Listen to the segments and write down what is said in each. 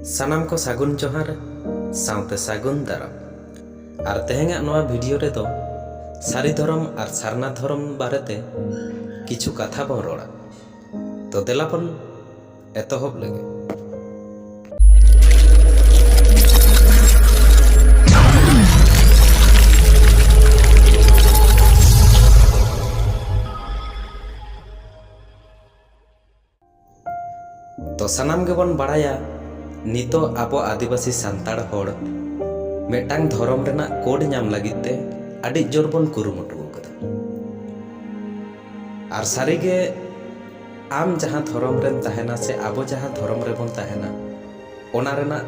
ᱥᱟᱱᱟᱢ ᱠᱚ ᱥᱟᱹᱜᱩᱱ ᱡᱚᱦᱟᱨ ᱥᱟᱶᱛᱮ ᱥᱟᱹᱜᱩᱱ ᱫᱟᱨᱟᱢ ᱟᱨ ᱛᱮᱦᱮᱧᱟᱜ ᱱᱚᱣᱟ ᱵᱷᱤᱰᱤᱭᱳ ᱨᱮᱫᱚ ᱥᱟᱹᱨᱤ ᱫᱷᱚᱨᱚᱢ ᱟᱨ ᱥᱟᱨᱱᱟ ᱫᱷᱚᱨᱚᱢ ᱵᱟᱨᱮᱛᱮ ᱠᱤᱪᱷᱩ ᱠᱟᱛᱷᱟ ᱵᱚᱱ ᱨᱚᱲᱟ ᱛᱚ ᱫᱮᱞᱟ ᱵᱚᱱ ᱮᱛᱚᱦᱚᱵ ᱞᱮᱜᱮ ᱛᱚ ᱥᱟᱱᱟᱢ ᱜᱮᱵᱚᱱ ᱵᱟᱲᱟᱭᱟ ᱱᱤᱛᱚᱜ ᱟᱵᱚ ᱟᱹᱫᱤᱵᱟᱹᱥᱤ ᱥᱟᱱᱛᱟᱲ ᱦᱚᱲ ᱢᱤᱫᱴᱟᱝ ᱫᱷᱚᱨᱚᱢ ᱨᱮᱱᱟᱜ ᱠᱳᱰ ᱧᱟᱢ ᱞᱟᱹᱜᱤᱫ ᱛᱮ ᱟᱹᱰᱤ ᱡᱳᱨ ᱵᱚᱱ ᱠᱩᱨᱩᱢᱩᱴᱩ ᱟᱠᱟᱫᱟ ᱟᱨ ᱥᱟᱹᱨᱤᱜᱮ ᱟᱢ ᱡᱟᱦᱟᱸ ᱫᱷᱚᱨᱚᱢ ᱨᱮᱢ ᱛᱟᱦᱮᱱᱟ ᱥᱮ ᱟᱵᱚ ᱡᱟᱦᱟᱸ ᱫᱷᱚᱨᱚᱢ ᱨᱮᱵᱚᱱ ᱛᱟᱦᱮᱱᱟ ᱚᱱᱟ ᱨᱮᱱᱟᱜ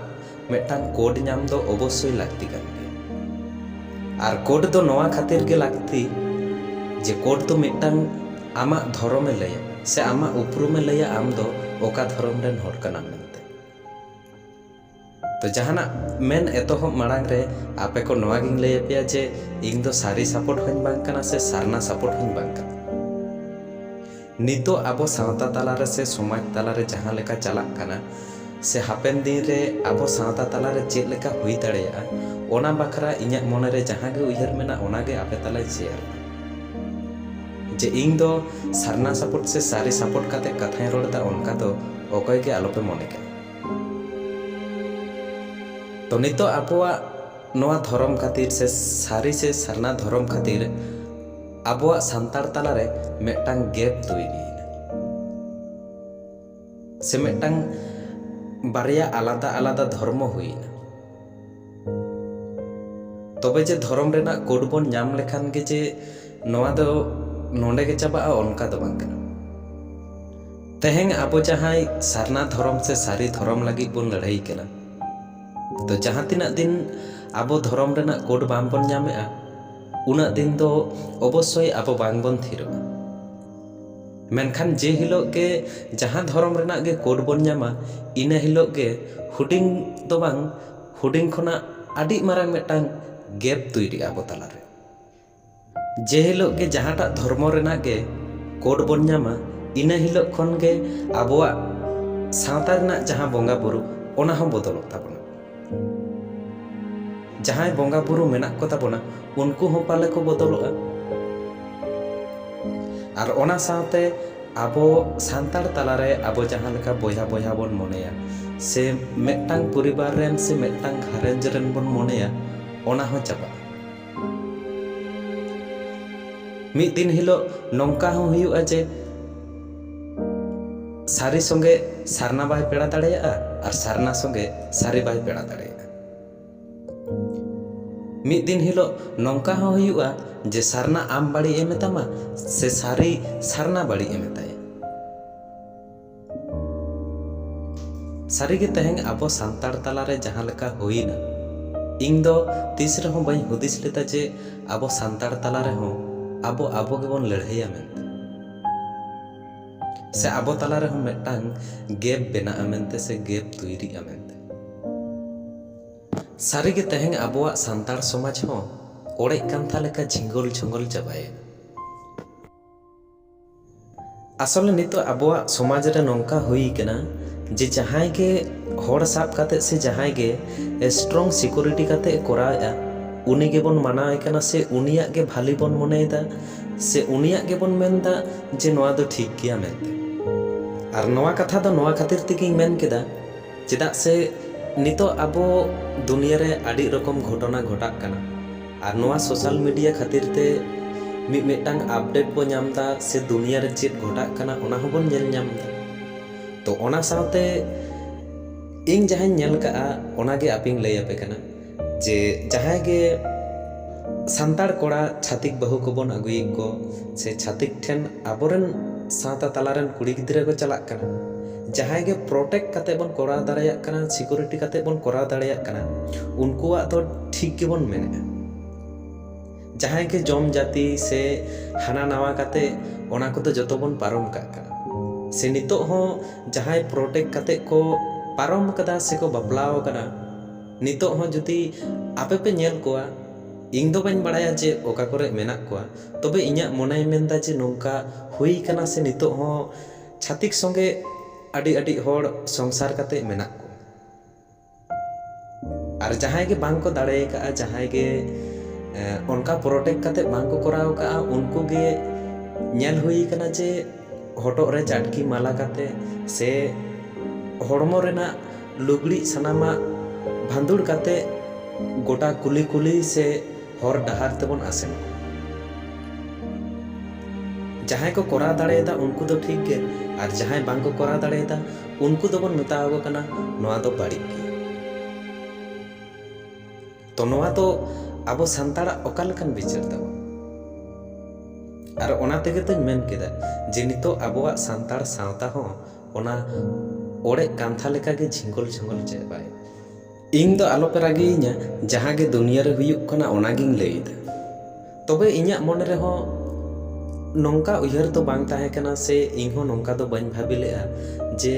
ᱢᱤᱫᱴᱟᱝ ᱠᱳᱰ ᱧᱟᱢ ᱫᱚ ᱚᱵᱚᱥᱥᱳᱭ ᱞᱟᱹᱠᱛᱤ ᱠᱟᱱ ᱜᱮᱭᱟ ᱟᱨ ᱠᱳᱰ ᱫᱚ ᱱᱚᱣᱟ ᱠᱷᱟᱹᱛᱤᱨ ᱜᱮ ᱞᱟᱹᱠᱛᱤ ᱡᱮ ᱠᱳᱰ ᱫᱚ ᱢᱤᱫᱴᱟᱝ ᱟᱢᱟᱜ ᱫᱷᱚᱨᱚᱢᱮ ᱞᱟᱹᱭᱟ ᱥᱮ ᱟᱢᱟᱜ ᱩᱯᱨᱩᱢᱮ ᱞᱟᱹᱭᱟ ᱟᱢ ᱫᱚ ᱚᱠᱟ ᱫᱷᱚᱨᱚᱢ ᱨᱮᱱ ᱦᱚᱲ ᱠᱟᱱᱟᱢ ᱢᱮᱱᱛᱮ᱾ ᱛᱚ ᱡᱟᱦᱟᱱᱟᱜ ᱢᱮᱱ ᱮᱛᱚᱦᱚᱵ ᱢᱟᱲᱟᱝ ᱨᱮ ᱟᱯᱮ ᱠᱚ ᱱᱚᱣᱟ ᱜᱤᱧ ᱞᱟᱹᱭ ᱟᱯᱮᱭᱟ ᱡᱮ ᱤᱧ ᱫᱚ ᱥᱟᱹᱨᱤ ᱥᱟᱯᱚᱴ ᱦᱚᱸᱧ ᱵᱟᱝ ᱠᱟᱱᱟ ᱥᱮ ᱥᱟᱨᱱᱟ ᱥᱟᱯᱚᱴ ᱦᱚᱸᱧ ᱵᱟᱝ ᱠᱟᱱᱟ᱾ ᱱᱤᱛᱚᱜ ᱟᱵᱚ ᱥᱟᱶᱛᱟ ᱛᱟᱞᱟ ᱨᱮ ᱥᱮ ᱥᱚᱢᱟᱡᱽ ᱛᱟᱞᱟ ᱨᱮ ᱡᱟᱦᱟᱸ ᱞᱮᱠᱟ ᱪᱟᱞᱟᱜ ᱠᱟᱱᱟ ᱥᱮ ᱦᱟᱯᱮᱱ ᱫᱤᱱ ᱨᱮ ᱟᱵᱚ ᱥᱟᱶᱛᱟ ᱛᱟᱞᱟ ᱨᱮ ᱪᱮᱫ ᱞᱮᱠᱟ ᱦᱩᱭ ᱫᱟᱲᱮᱭᱟᱜᱼᱟ ᱚᱱᱟ ᱵᱟᱠᱷᱨᱟ ᱤᱧᱟᱹᱜ ᱢᱚᱱᱮ ᱨᱮ ᱡᱟᱦᱟᱸ ᱜᱮ ᱩᱭᱦᱟᱹᱨ ᱢᱮᱱᱟᱜ ᱚᱱᱟ ᱜᱮ ᱟᱯᱮ ᱛᱟᱞᱟᱧ ᱥᱮᱭᱟᱨ ᱮᱫᱟ ᱡᱮ ᱤᱧ ᱫᱚ ᱥᱟᱨᱱᱟ ᱥᱟᱯᱚᱴ ᱥᱮ ᱥᱟᱹᱨᱤ ᱥᱟᱯᱚᱴ ᱠᱟᱛᱮ ᱠᱟᱛᱷᱟᱧ ᱨᱚᱲ ᱮᱫᱟ ᱚᱱᱠᱟ ᱫᱚ ᱚᱠᱚᱭ ᱜᱮ ᱟᱞᱚ ᱯᱮ ᱢᱚᱱᱮ ᱠᱟᱜᱼᱟ ᱛᱚ ᱱᱤᱛᱚᱜ ᱟᱵᱚᱣᱟᱜ ᱱᱚᱣᱟ ᱫᱷᱚᱨᱚᱢ ᱠᱷᱟᱹᱛᱤᱨ ᱥᱮ ᱥᱟᱹᱨᱤ ᱥᱮ ᱥᱟᱨᱱᱟ ᱫᱷᱚᱨᱚᱢ ᱠᱷᱟᱹᱛᱤᱨ ᱟᱵᱚᱣᱟᱜ ᱥᱟᱱᱛᱟᱲ ᱛᱟᱞᱟ ᱨᱮ ᱢᱤᱫᱴᱟᱝ ᱜᱮᱯ ᱛᱚᱭᱨᱤ ᱮᱱᱟ ᱥᱮ ᱢᱤᱫᱴᱟᱝ ᱵᱟᱨᱭᱟ ᱟᱞᱟᱫᱟ ᱟᱞᱟᱫᱟ ᱫᱷᱚᱨᱢᱚ ᱦᱩᱭ ᱮᱱᱟ ᱛᱚᱵᱮ ᱡᱮ ᱫᱷᱚᱨᱚᱢ ᱨᱮᱱᱟᱜ ᱠᱳᱰ ᱵᱚᱱ ᱧᱟᱢ ᱞᱮᱠᱷᱟᱱ ᱜᱮ ᱡᱮ ᱱᱚᱣᱟ ᱫᱚ ᱱᱚᱰᱮ ᱜᱮ ᱪᱟᱵᱟᱜᱼᱟ ᱚᱱᱠᱟ ᱫᱚ ᱵᱟᱝ ᱠᱟᱱᱟ ᱛᱮᱦᱮᱧ ᱟᱵᱚ ᱡᱟᱦᱟᱸᱭ ᱥᱟᱨᱱᱟ ᱫᱷᱚᱨᱚᱢ ᱥᱮ ᱥᱟᱹᱨᱤ ᱫᱷᱚᱨᱚᱢ ᱞᱟᱹᱜᱤᱫ ᱵᱚᱱ ᱞᱟᱹᱲᱦᱟᱹᱭ ᱠᱟᱱᱟ ᱛᱚ ᱡᱟᱦᱟᱸ ᱛᱤᱱᱟᱹᱜ ᱫᱤᱱ ᱟᱵᱚ ᱫᱷᱚᱨᱚᱢ ᱨᱮᱱᱟᱜ ᱠᱳᱰ ᱵᱟᱝ ᱵᱚᱱ ᱧᱟᱢᱮᱜᱼᱟ ᱩᱱᱟᱹᱜ ᱫᱤᱱ ᱫᱚ ᱚᱵᱚᱥᱥᱳᱭ ᱟᱵᱚ ᱵᱟᱝᱵᱚᱱ ᱛᱷᱤᱨᱚᱜᱼᱟ ᱢᱮᱱᱠᱷᱟᱱ ᱡᱮ ᱦᱤᱞᱳᱜ ᱜᱮ ᱡᱟᱦᱟᱸ ᱫᱷᱚᱨᱚᱢ ᱨᱮᱱᱟᱜ ᱜᱮ ᱠᱳᱰ ᱵᱚᱱ ᱧᱟᱢᱟ ᱤᱱᱟᱹ ᱦᱤᱞᱳᱜ ᱜᱮ ᱦᱩᱰᱤᱧ ᱫᱚ ᱵᱟᱝ ᱦᱩᱰᱤᱧ ᱠᱷᱚᱱᱟᱜ ᱟᱹᱰᱤ ᱢᱟᱨᱟᱝ ᱢᱤᱫᱴᱟᱝ ᱜᱮᱯ ᱛᱳᱭᱨᱤᱜᱼᱟ ᱟᱵᱚ ᱛᱟᱞᱟᱨᱮ ᱡᱮ ᱦᱤᱞᱳᱜ ᱜᱮ ᱡᱟᱦᱟᱸᱴᱟᱜ ᱫᱷᱚᱨᱢᱚ ᱨᱮᱱᱟᱜ ᱜᱮ ᱠᱳᱰ ᱵᱚᱱ ᱧᱟᱢᱟ ᱤᱱᱟᱹ ᱦᱤᱞᱳᱜ ᱠᱷᱚᱱᱜᱮ ᱟᱵᱚᱣᱟᱜ ᱥᱟᱶᱛᱟ ᱨᱮᱱᱟᱜ ᱡᱟᱦᱟᱸ ᱵᱚᱸᱜᱟᱼᱵᱩᱨᱩ ᱚᱱᱟᱦᱚᱸ ᱵᱚᱫᱚᱞᱚᱜ ᱛᱟᱵᱚᱱᱟ ᱡᱟᱦᱟᱸᱭ ᱵᱚᱸᱜᱟ ᱵᱩᱨᱩ ᱢᱮᱱᱟᱜ ᱠᱚ ᱛᱟᱵᱚᱱᱟ ᱩᱱᱠᱩ ᱦᱚᱸ ᱯᱟᱞᱮ ᱠᱚ ᱵᱚᱫᱚᱞᱚᱜᱼᱟ ᱟᱨ ᱚᱱᱟ ᱥᱟᱶᱛᱮ ᱟᱵᱚ ᱥᱟᱱᱛᱟᱲ ᱛᱟᱞᱟᱨᱮ ᱟᱵᱚ ᱡᱟᱦᱟᱸ ᱞᱮᱠᱟ ᱵᱚᱭᱦᱟ ᱵᱚᱭᱦᱟ ᱵᱚᱱ ᱢᱚᱱᱮᱭᱟ ᱥᱮ ᱢᱤᱫᱴᱟᱝ ᱯᱚᱨᱤᱵᱟᱨ ᱨᱮᱱ ᱥᱮ ᱢᱤᱫᱴᱟᱝ ᱜᱷᱟᱨᱚᱸᱡᱽ ᱨᱮᱱ ᱵᱚᱱ ᱢᱚᱱᱮᱭᱟ ᱚᱱᱟ ᱦᱚᱸ ᱪᱟᱵᱟᱜᱼᱟ ᱢᱤᱫ ᱫᱤᱱ ᱦᱤᱞᱳᱜ ᱱᱚᱝᱠᱟ ᱦᱚᱸ ᱦᱩᱭᱩᱜᱼᱟ ᱡᱮ ᱥᱟᱹᱨᱤ ᱥᱚᱸᱜᱮ ᱥᱟᱨᱱᱟ ᱵᱟᱭ ᱯᱮᱲᱟ ᱫᱟᱲᱮᱭᱟᱜᱼᱟ ᱟᱨ ᱥᱟᱨᱱᱟ ᱥᱚᱸᱜᱮ ᱥᱟᱹᱨᱤ ᱵᱟᱭ ᱯᱮᱲᱟ ᱫᱟᱲᱮᱭᱟᱜᱼᱟ ᱢᱤᱫ ᱫᱤᱱ ᱦᱤᱞᱳᱜ ᱱᱚᱝᱠᱟ ᱦᱚᱸ ᱦᱩᱭᱩᱜᱼᱟ ᱡᱮ ᱥᱟᱨᱱᱟ ᱟᱢ ᱵᱟᱹᱲᱤᱡ ᱮ ᱢᱮᱛᱟᱢᱟ ᱥᱮ ᱥᱟᱹᱨᱤ ᱥᱟᱨᱱᱟ ᱵᱟᱹᱲᱤᱡ ᱮ ᱢᱮᱛᱟᱭᱟ ᱥᱟᱹᱨᱤ ᱜᱮ ᱛᱮᱦᱮᱧ ᱟᱵᱚ ᱥᱟᱱᱛᱟᱲ ᱛᱟᱞᱟ ᱨᱮ ᱡᱟᱦᱟᱸ ᱞᱮᱠᱟ ᱦᱩᱭᱮᱱᱟ ᱤᱧ ᱫᱚ ᱛᱤᱥ ᱨᱮᱦᱚᱸ ᱵᱟᱹᱧ ᱦᱩᱫᱤᱥ ᱞᱮᱫᱟ ᱡᱮ ᱟᱵᱚ ᱥᱟᱱᱛᱟᱲ ᱛᱟᱞᱟ ᱨᱮᱦᱚᱸ ᱟᱵᱚ ᱟᱵᱚ ᱜᱮᱵᱚᱱ ᱞᱟᱹᱲᱦᱟᱹᱭᱟ ᱢᱮᱱᱛᱮ ᱥᱮ ᱟᱵᱚ ᱛᱟᱞᱟ ᱨᱮᱦᱚᱸ ᱢᱤᱫᱴᱟᱝ ᱜᱮᱯ ᱵᱮᱱᱟᱜᱼᱟ ᱢᱮᱱᱛᱮ ᱥᱮ ᱜᱮᱯ ᱛᱩᱭᱨᱤᱜᱼᱟ ᱢᱮᱱᱛᱮ ᱥᱟᱹᱨᱤ ᱜᱮ ᱛᱮᱦᱮᱧ ᱟᱵᱚᱣᱟᱜ ᱥᱟᱱᱛᱟᱲ ᱥᱚᱢᱟᱡᱽ ᱦᱚᱸ ᱚᱲᱮᱡ ᱠᱟᱱᱛᱷᱟ ᱞᱮᱠᱟ ᱡᱷᱤᱸᱜᱚᱞ ᱡᱷᱚᱸᱜᱚᱞ ᱪᱟᱵᱟᱭᱮᱱᱟ ᱟᱥᱚᱞᱮ ᱱᱤᱛᱚᱜ ᱟᱵᱚᱣᱟᱜ ᱥᱚᱢᱟᱡᱽ ᱨᱮ ᱱᱚᱝᱠᱟ ᱦᱩᱭ ᱟᱠᱟᱱᱟ ᱡᱮ ᱡᱟᱦᱟᱸᱭ ᱜᱮ ᱦᱚᱲ ᱥᱟᱵ ᱠᱟᱛᱮ ᱥᱮ ᱡᱟᱦᱟᱸᱭ ᱜᱮ ᱥᱴᱨᱚᱝ ᱥᱤᱠᱩᱨᱤᱴᱤ ᱠᱟᱛᱮ ᱮ ᱠᱚᱨᱟᱣᱮᱫᱼᱟ ᱩᱱᱤ ᱜᱮᱵᱚᱱ ᱢᱟᱱᱟᱣᱮ ᱠᱟᱱᱟ ᱥᱮ ᱩᱱᱤᱭᱟᱜ ᱜᱮ ᱵᱷᱟᱹᱞᱤ ᱵᱚᱱ ᱢᱚᱱᱮᱭᱮᱫᱟ ᱥᱮ ᱩᱱᱤᱭᱟᱜ ᱜᱮᱵᱚᱱ ᱢᱮᱱᱫᱟ ᱡᱮ ᱱᱚᱣᱟ ᱫᱚ ᱴᱷᱤᱠ ᱜᱮᱭᱟ ᱢᱮᱱᱛᱮ ᱟᱨ ᱱᱚᱣᱟ ᱠᱟᱛᱷᱟ ᱫᱚ ᱱᱚᱣᱟ ᱠᱷᱟᱹᱛᱤᱨ ᱛᱮᱜᱮᱧ ᱢᱮᱱ ᱠᱮᱫᱟ ᱪᱮᱫᱟᱜ ᱥᱮ ᱱᱤᱛᱚᱜ ᱟᱵᱚ ᱫᱩᱱᱤᱭᱟᱹ ᱨᱮ ᱟᱹᱰᱤ ᱨᱚᱠᱚᱢ ᱜᱷᱚᱴᱚᱱᱟ ᱜᱷᱚᱴᱟᱜ ᱠᱟᱱᱟ ᱟᱨ ᱱᱚᱣᱟ ᱥᱳᱥᱟᱞ ᱢᱤᱰᱤᱭᱟ ᱠᱷᱟᱹᱛᱤᱨ ᱛᱮ ᱢᱤᱫ ᱢᱤᱫᱴᱟᱝ ᱟᱯᱰᱮᱴ ᱵᱚ ᱧᱟᱢ ᱮᱫᱟ ᱥᱮ ᱫᱩᱱᱤᱭᱟᱹ ᱨᱮ ᱪᱮᱫ ᱜᱷᱚᱴᱟᱜ ᱠᱟᱱᱟ ᱚᱱᱟ ᱦᱚᱸ ᱵᱚᱱ ᱧᱮᱞ ᱧᱟᱢ ᱮᱫᱟ ᱛᱚ ᱚᱱᱟ ᱥᱟᱶᱛᱮ ᱤᱧ ᱡᱟᱦᱟᱸᱧ ᱧᱮᱞ ᱠᱟᱜᱼᱟ ᱚᱱᱟᱜᱮ ᱟᱯᱮᱧ ᱞᱟᱹᱭ ᱟᱯᱮ ᱠᱟᱱᱟ ᱡᱮ ᱡᱟᱦᱟᱸᱭ ᱜᱮ ᱥᱟᱱᱛᱟᱲ ᱠᱚᱲᱟ ᱪᱷᱟᱛᱤᱠ ᱵᱟᱹᱦᱩ ᱠᱚᱵᱚᱱ ᱟᱹᱜᱩᱭᱮᱫ ᱠᱚ ᱥᱮ ᱪᱷᱟᱛᱤᱠ ᱴᱷᱮᱱ ᱟᱵᱚᱨᱮᱱ ᱥᱟᱶᱛᱟ ᱛᱟᱞᱟ ᱨᱮᱱ ᱠᱩᱲᱤ ᱜᱤᱫᱽᱨᱟᱹ ᱠᱚ ᱪᱟᱞᱟᱜ ᱠᱟᱱᱟ ᱡᱟᱦᱟᱸᱭ ᱜᱮ ᱯᱨᱚᱴᱮᱠᱴ ᱠᱟᱛᱮ ᱵᱚᱱ ᱠᱚᱨᱟᱣ ᱫᱟᱲᱮᱭᱟᱜ ᱠᱟᱱᱟ ᱥᱤᱠᱩᱨᱤᱴᱤ ᱠᱟᱛᱮ ᱵᱚᱱ ᱠᱚᱨᱟᱣ ᱫᱟᱲᱮᱭᱟᱜ ᱠᱟᱱᱟ ᱩᱱᱠᱩᱣᱟᱜ ᱫᱚ ᱴᱷᱤᱠ ᱜᱮᱵᱚᱱ ᱢᱮᱱᱮᱫᱼᱟ ᱡᱟᱦᱟᱸᱭ ᱜᱮ ᱡᱚᱢ ᱡᱟᱹᱛᱤ ᱥᱮ ᱦᱟᱱᱟ ᱱᱟᱣᱟ ᱠᱟᱛᱮ ᱚᱱᱟ ᱠᱚᱫᱚ ᱡᱚᱛᱚ ᱵᱚᱱ ᱯᱟᱨᱚᱢ ᱠᱟᱜ ᱠᱟᱱᱟ ᱥᱮ ᱱᱤᱛᱚᱜ ᱦᱚᱸ ᱡᱟᱦᱟᱸᱭ ᱯᱨᱚᱴᱮᱠᱴ ᱠᱟᱛᱮ ᱠᱚ ᱯᱟᱨᱚᱢ ᱠᱟᱫᱟ ᱥᱮᱠᱚ ᱵᱟᱯᱞᱟ ᱟᱠᱟᱱᱟ ᱱᱤᱛᱚᱜ ᱦᱚᱸ ᱡᱩᱫᱤ ᱟᱯᱮ ᱯᱮ ᱧᱮᱞ ᱠᱚᱣᱟ ᱤᱧ ᱫᱚ ᱵᱟᱹᱧ ᱵᱟᱲᱟᱭᱟ ᱡᱮ ᱚᱠᱟ ᱠᱚᱨᱮ ᱢᱮᱱᱟᱜ ᱠᱚᱣᱟ ᱛᱚᱵᱮ ᱤᱧᱟᱹᱜ ᱢᱚᱱᱮᱭ ᱢᱮᱱᱫᱟ ᱡᱮ ᱱᱚᱝᱠᱟ ᱦᱩᱭ ᱠᱟᱱᱟ ᱥᱮ ᱱᱤᱛᱚᱜ ᱦᱚᱸ ᱪᱷᱟᱹᱛᱤᱠ ᱥᱚᱸᱜᱮ ᱟᱹᱰᱤ ᱟᱹᱰᱤ ᱦᱚᱲ ᱥᱚᱝᱥᱟᱨ ᱠᱟᱛᱮ ᱢᱮᱱᱟᱜ ᱠᱚᱣᱟ ᱟᱨ ᱡᱟᱦᱟᱸᱭ ᱜᱮ ᱵᱟᱝ ᱠᱚ ᱫᱟᱲᱮ ᱠᱟᱜᱼᱟ ᱡᱟᱦᱟᱸᱭ ᱜᱮ ᱚᱱᱠᱟ ᱯᱨᱚᱴᱮᱠᱴ ᱠᱟᱛᱮ ᱵᱟᱝ ᱠᱚ ᱠᱚᱨᱟᱣ ᱠᱟᱜᱼᱟ ᱩᱱᱠᱩ ᱜᱮ ᱧᱮᱞ ᱦᱩᱭ ᱠᱟᱱᱟ ᱡᱮ ᱦᱚᱴᱚᱜ ᱨᱮ ᱪᱟᱴᱠᱤ ᱢᱟᱞᱟ ᱠᱟᱛᱮ ᱥᱮ ᱦᱚᱲᱢᱚ ᱨᱮᱱᱟᱜ ᱞᱩᱜᱽᱲᱤᱡ ᱥᱟᱱᱟᱢᱟᱜ ᱵᱷᱟᱺᱫᱩᱲ ᱠᱟᱛᱮ ᱜᱚᱴᱟ ᱠᱩᱞᱦᱤ ᱠᱩᱞᱦᱤ ᱥᱮ ᱦᱚᱨ ᱰᱟᱦᱟᱨ ᱛᱮᱵᱚᱱ ᱟᱥᱮᱱ ᱠᱚᱣᱟ᱾ ᱡᱟᱦᱟᱸᱭ ᱠᱚ ᱠᱚᱨᱟᱣ ᱫᱟᱲᱮᱭᱟᱫᱟ ᱩᱱᱠᱩ ᱫᱚ ᱴᱷᱤᱠ ᱜᱮ ᱟᱨ ᱡᱟᱦᱟᱸᱭ ᱵᱟᱝ ᱠᱚ ᱠᱚᱨᱟᱣ ᱫᱟᱲᱮᱭᱟᱫᱟ ᱩᱱᱠᱩ ᱫᱚᱵᱚᱱ ᱢᱮᱛᱟᱣᱟᱠᱚ ᱠᱟᱱᱟ ᱱᱚᱣᱟ ᱫᱚ ᱵᱟᱹᱲᱤᱡ ᱜᱮᱭᱟ᱾ ᱛᱚ ᱱᱚᱣᱟ ᱫᱚ ᱟᱵᱚ ᱥᱟᱱᱛᱟᱲᱟᱜ ᱚᱠᱟ ᱞᱮᱠᱟᱱ ᱵᱤᱪᱟᱹᱨ ᱛᱟᱵᱚᱱ ᱟᱨ ᱚᱱᱟ ᱛᱮᱜᱮ ᱛᱚᱧ ᱢᱮᱱ ᱠᱮᱫᱟ ᱡᱮ ᱱᱤᱛᱚᱜ ᱟᱵᱚᱣᱟᱜ ᱥᱟᱱᱛᱟᱲ ᱥᱟᱶᱛᱟ ᱦᱚᱸ ᱚᱱᱟ ᱚᱲᱮᱡ ᱠᱟᱱᱛᱷᱟ ᱞᱮᱠᱟᱜᱮ ᱡᱷᱤᱝᱜᱚᱞ ᱡᱷᱚᱝᱜᱚᱞ ᱪᱮᱫ ᱵᱟᱭ ᱤᱧ ᱫᱚ ᱟᱞᱚᱯᱮ ᱨᱟᱹᱜᱤᱭᱤᱧᱟ ᱡᱟᱦᱟᱸ ᱜᱮ ᱫᱩᱱᱭᱟᱹ ᱨᱮ ᱦᱩᱭᱩᱜ ᱠᱟᱱᱟ ᱚᱱᱟᱜᱤᱧ ᱞᱟᱹᱭᱫᱟ ᱛᱚᱵᱮ ᱤᱧᱟᱹᱜ ᱢᱚᱱᱮ ᱨᱮᱦᱚᱸ ᱱᱚᱝᱠᱟ ᱩᱭᱦᱟᱹᱨ ᱫᱚ ᱵᱟᱝ ᱛᱟᱦᱮᱸ ᱠᱟᱱᱟ ᱥᱮ ᱤᱧ ᱦᱚᱸ ᱱᱚᱝᱠᱟ ᱫᱚ ᱵᱟᱹᱧ ᱵᱷᱟᱹᱵᱤ ᱞᱮᱫᱼᱟ ᱡᱮ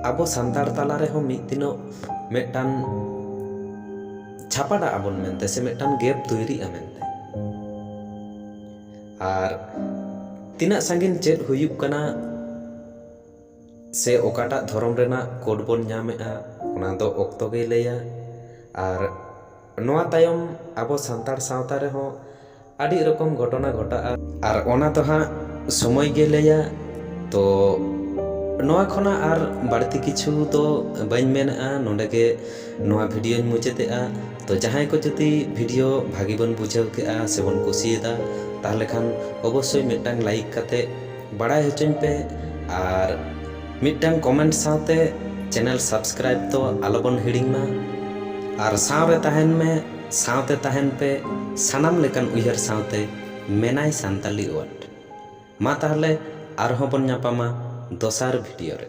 ᱟᱵᱚ ᱥᱟᱱᱛᱟᱲ ᱛᱟᱞᱟ ᱨᱮᱦᱚᱸ ᱢᱤᱫ ᱫᱤᱱᱚᱜ ᱢᱤᱫᱴᱟᱱ ᱪᱷᱟᱯᱟᱰᱟᱜ ᱟᱵᱚᱱ ᱢᱮᱱᱛᱮ ᱥᱮ ᱢᱤᱫᱴᱟᱱ ᱜᱮᱯ ᱛᱳᱭᱨᱤᱜᱼᱟ ᱢᱮᱱᱛᱮ ᱟᱨ ᱛᱤᱱᱟᱹᱜ ᱥᱟᱺᱜᱤᱧ ᱪᱮᱫ ᱦᱩᱭᱩᱜ ᱠᱟᱱᱟ ᱥᱮ ᱚᱠᱟᱴᱟᱜ ᱫᱷᱚᱨᱚᱢ ᱨᱮᱱᱟᱜ ᱠᱳᱰ ᱵᱚᱱ ᱧᱟᱢᱮᱫᱼᱟ ᱚᱱᱟ ᱫᱚ ᱚᱠᱛᱚ ᱜᱮᱭ ᱞᱟᱹᱭᱟ ᱟᱨ ᱱᱚᱣᱟ ᱛᱟᱭᱚᱢ ᱟᱵᱚ ᱥᱟᱱᱛᱟᱲ ᱥᱟᱶᱛᱟ ᱨᱮᱦᱚᱸ ᱟᱹᱰᱤ ᱨᱚᱠᱚᱢ ᱜᱷᱚᱴᱚᱱᱟ ᱜᱷᱚᱴᱟᱜᱼᱟ ᱟᱨ ᱚᱱᱟ ᱫᱚ ᱦᱟᱸᱜ ᱥᱚᱢᱚᱭ ᱜᱮ ᱞᱟᱹᱭᱟ ᱛᱚ ᱱᱚᱣᱟ ᱠᱷᱚᱱᱟᱜ ᱟᱨ ᱵᱟᱹᱲᱛᱤ ᱠᱤᱪᱷᱩ ᱫᱚ ᱵᱟᱹᱧ ᱢᱮᱱᱮᱜᱼᱟ ᱱᱚᱰᱮ ᱜᱮ ᱱᱚᱣᱟ ᱵᱷᱤᱰᱭᱳᱧ ᱢᱩᱪᱟᱹᱫᱮᱜᱼᱟ ᱛᱚ ᱡᱟᱦᱟᱸᱭ ᱠᱚ ᱡᱩᱫᱤ ᱵᱷᱤᱰᱭᱳ ᱵᱷᱟᱹᱜᱤ ᱵᱚᱱ ᱵᱩᱡᱷᱟᱹᱣ ᱠᱮᱜᱼᱟ ᱥᱮᱵᱚᱱ ᱠᱩᱥᱤᱭᱟᱫᱟ ᱛᱟᱦᱚᱞᱮ ᱠᱷᱟᱱ ᱚᱵᱚᱥᱥᱳᱭ ᱢᱤᱫᱴᱟᱝ ᱞᱟᱭᱤᱠ ᱠᱟᱛᱮ ᱵᱟᱲᱟᱭ ᱦᱚᱪᱚᱧ ᱯᱮ ᱟᱨ ᱢᱤᱫᱴᱟᱝ ᱠᱚᱢᱮᱱᱴ ᱥᱟᱶᱛᱮ ᱪᱮᱱᱮᱞ ᱥᱟᱵᱥᱠᱨᱟᱭᱤᱵᱽ ᱫᱚ ᱟᱞᱚ ᱵᱚᱱ ᱦᱤᱲᱤᱧ ᱢᱟ ᱟᱨ ᱥᱟᱶᱨᱮ ᱛᱟᱦᱮᱱ ᱢᱮ ᱥᱟᱶᱛᱮ ᱛᱟᱦᱮᱱ ᱯᱮ ᱥᱟᱱᱟᱢ ᱞᱮᱠᱟᱱ ᱩᱭᱦᱟᱹᱨ ᱥᱟᱶᱛᱮ ᱢᱮᱱᱟᱭ ᱥᱟᱱᱛᱟᱞᱤ ᱳᱣᱟᱨᱰ ᱢᱟ ᱛᱟᱦᱚᱞᱮ ᱟᱨᱦᱚᱸ ᱵᱚᱱ ᱧᱟᱯᱟᱢᱟ ᱫᱚᱥᱟᱨ ᱵᱷᱤᱰᱤᱭᱳ ᱨᱮ᱾